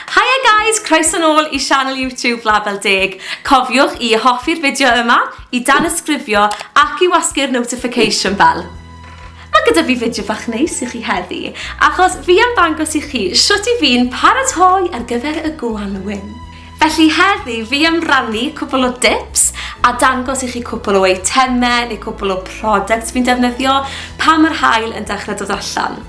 Haia guys, croeso nôl i sianel YouTube Label Deg. Cofiwch i hoffi'r fideo yma, i danysgrifio ac i wasgu'r notification bell. Mae gyda fi fideo bach neis i chi heddi, achos fi am ddangos i chi sut i fi'n paratoi ar gyfer y gwanwyn. Felly heddi fi am rannu cwpl o dips a dangos i chi cwpl o eitemau neu cwpl o products fi'n defnyddio pan mae'r haul yn dechrau dod allan.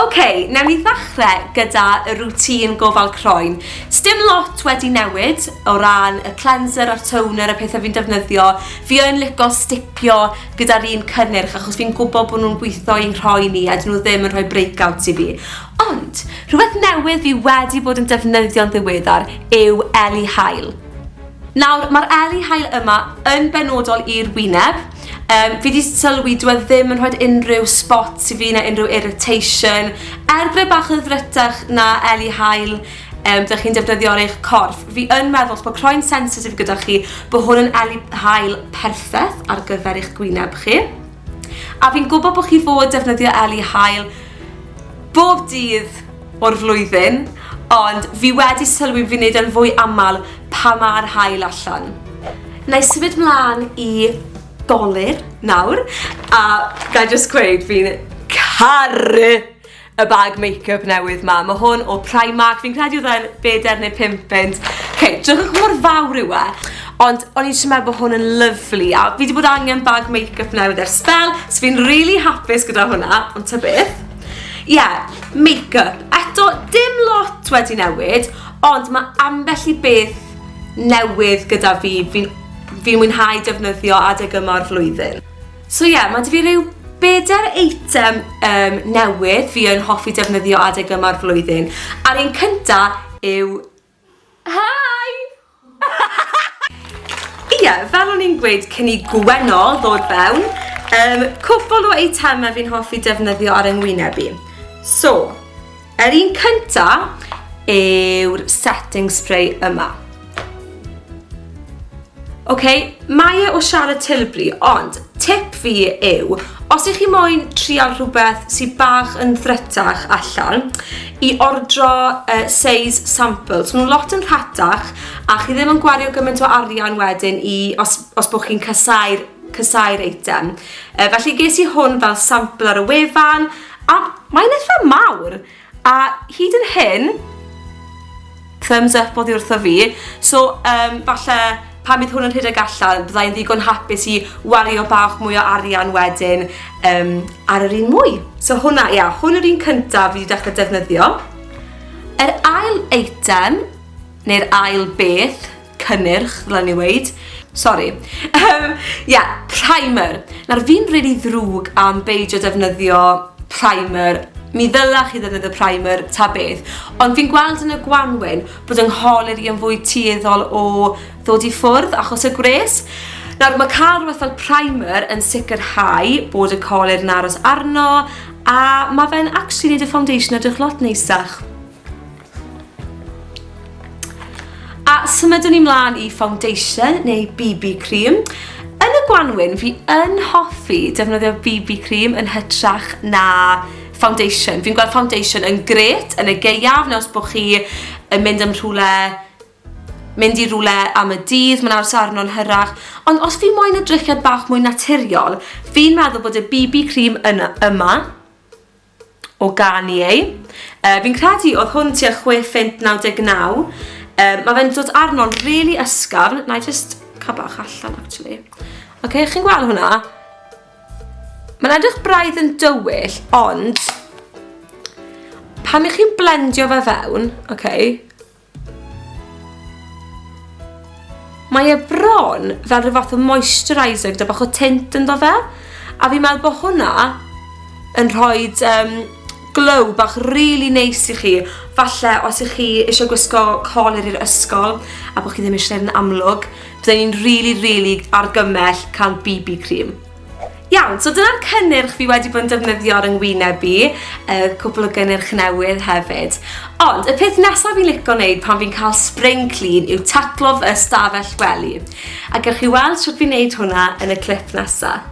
Ok, newn ni ddechre gyda y routine gofal croen. Sdim lot wedi newid o ran y cleanser a'r toner, y pethau fi'n defnyddio. Fi yn lico stipio gyda'r un cynnyrch achos fi'n gwybod bod nhw'n gweithio i'n rhoi ni a dyn nhw ddim yn rhoi breakouts i fi. Ond, rhywbeth newydd fi wedi bod yn defnyddio'n ddiweddar yw Eli Hael. Nawr, mae'r Eli Hael yma yn benodol i'r wyneb, Um, fi wedi sylwi dwi e ddim yn rhoi unrhyw spots i fi na unrhyw irritation. Er bod e bach yn ddrytach na Eli Hael, um, dych chi'n defnyddio ar eich corff. Fi yn meddwl, os bod croen sensitif gyda chi, bod hwn yn Eli Hael perffaith ar gyfer eich gwyneb chi. A fi'n gwybod bod chi fod defnyddio Eli Hael bob dydd o'r flwyddyn, ond fi wedi sylwi fi'n neud e'n fwy aml pan mae'r haul allan. Na i symud mlaen i dolur nawr, a na i just gweud fi'n caru y bag make-up newydd ma. Mae hwn o Primark, fi'n credu oedd e'n bedair neu pump punt. Okay, drygwch mor fawr yw e. Ond o'n i'n siarad bod hwn yn lyflu, a fi wedi bod angen bag make-up newydd ar spel, so fi'n really hapus gyda hwnna, ond ta beth. Ie, yeah, make-up. Eto, dim lot wedi newid, ond mae ambell i beth newydd gyda fi. Fi'n fi mwynhau defnyddio adeg yma o'r flwyddyn. So ie, yeah, mae dy fi rhyw bedair eitem um, newydd fi yn hoffi defnyddio adeg yma'r flwyddyn. A'r un cynta yw Hi! Ie, fel o'n i'n gweud cyn i Gwenno ddod fewn, um, cwpl o eitemau fi'n hoffi defnyddio ar yngwyneb i. So, yr un cynta yw'r setting spray yma. Ok, mae e o Charlotte Tilbury, ond tip fi yw, os ych chi moyn trial rhywbeth sydd bach yn ddrytach allan, i ordro uh, size samples. So, nhw'n lot yn rhatach, a chi ddim yn gwario gymaint o arian wedyn i, os, os bod chi'n casau'r casau'r eitem. Uh, felly ges i hwn fel sampl ar y wefan, a mae'n eitha mawr. A hyd yn hyn, thumbs up oddi wrtho fi, so um, falle pan bydd hwn yn rhedeg allan, byddai'n ddigon hapus i wario bach mwy o arian wedyn um, ar yr un mwy. So hwnna, ia, hwn yr un cyntaf fi wedi dechrau defnyddio. Yr ail eitem, neu'r ail beth, cynnyrch, ddylen ni weud. Sori. Yym, ie, primer. Nawr, fi'n rili ddrwg am beidio defnyddio primer. Mi ddyla chi ddefnyddio primer ta beth, ond fi'n gweld yn y gwanwyn bod yng ngholer i yn fwy tueddol o ddod i ffwrdd achos y gwres. Nawr, mae cael rhywbeth fel primer yn sicrhau bod y coler yn aros arno, a mae fe'n actually wneud y foundation edrych lot neisach. A symudwn ni mlaen i foundation neu BB cream. Yn y gwanwyn, fi yn hoffi defnyddio BB cream yn hytrach na foundation. Fi'n gweld foundation yn gret yn y geiaf, neu os bod chi yn mynd am rhywle mynd i rhywle am y dydd, mae'n aros arno'n hyrach. Ond os fi moyn y drychiad bach mwy naturiol, fi'n meddwl bod y BB cream yna, yma o gân i ei. Yy fi'n credu oedd hwn tua chwe phint naw deg naw. Yy ma' fe'n dod arno'n rili ysgafn. Na i jyst cael bach allan actually. Oce, chi'n gweld hwnna? Mae'n edrych braidd yn dywyll, ond pan i chi'n blendio fe fewn, oce, Mae e bron fel rhyw fath o moisturiser gyda bach o tint ynddo fe, a fi'n meddwl bod hwnna yn rhoi um, glow bach rili really neis i chi. Falle os ych chi eisiau gwisgo colir i'r ysgol a bod chi ddim eisiau gwneud yn amlwg, byddai'n rili, really, really argymell cael BB cream. Iawn, so dyna'r cynnyrch fi wedi bod yn defnyddio ar yngwyneb i, y cwpl o gynnyrch newydd hefyd. Ond y peth nesaf fi'n licio wneud pan fi'n cael spring clean yw taclo fy ystafell wely. A gewch chi weld sut fi'n wneud hwnna yn y clip nesaf.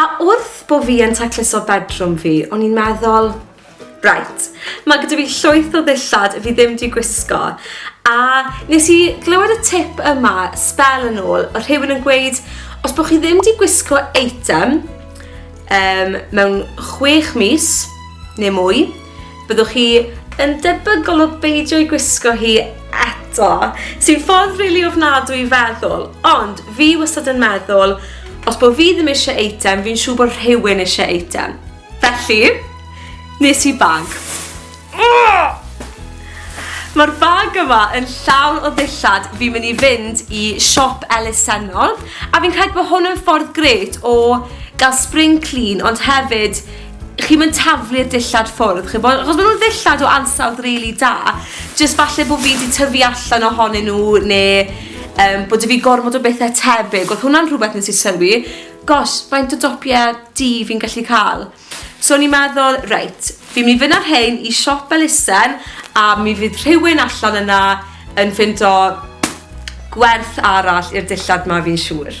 A wrth bo fi yn tacluso bedroom fi, o'n i'n meddwl, right, mae gyda fi llwyth o ddillad fi ddim di gwisgo. A nes i glywed y tip yma, spel yn ôl, o rhywun yn gweud, os bod chi ddim di gwisgo eitem, Um, mewn chwech mis, neu mwy, byddwch chi yn debygol o beidio i gwisgo hi eto, sy'n ffordd rili really ofnadwy i feddwl, ond fi wastad yn meddwl, os bod fi ddim eisiau eitem, fi'n siŵr bod rhywun eisiau eitem. Felly, nes i bag. Mae'r bag yma yn llawn o ddillad fi'n mynd i fynd i siop elusennol a fi'n credu bod hwn yn ffordd gret o gael spring clean ond hefyd chi'n mynd taflu'r dillad ffwrdd chi'n bod, achos maen nhw'n ddillad o ansawdd rili really da jyst falle bod fi wedi tyfu allan ohonyn nhw neu um, bod fi gormod o bethau tebyg oedd hwnna'n rhywbeth nes i sylwi gosh faint o dopiau di fi'n gallu cael So o'n i'n meddwl, reit, fi'n mynd i fynd â rhein i siop elusen a mi fydd rhywun allan yna yn ffindo gwerth arall i'r dillad 'ma fi'n siŵr.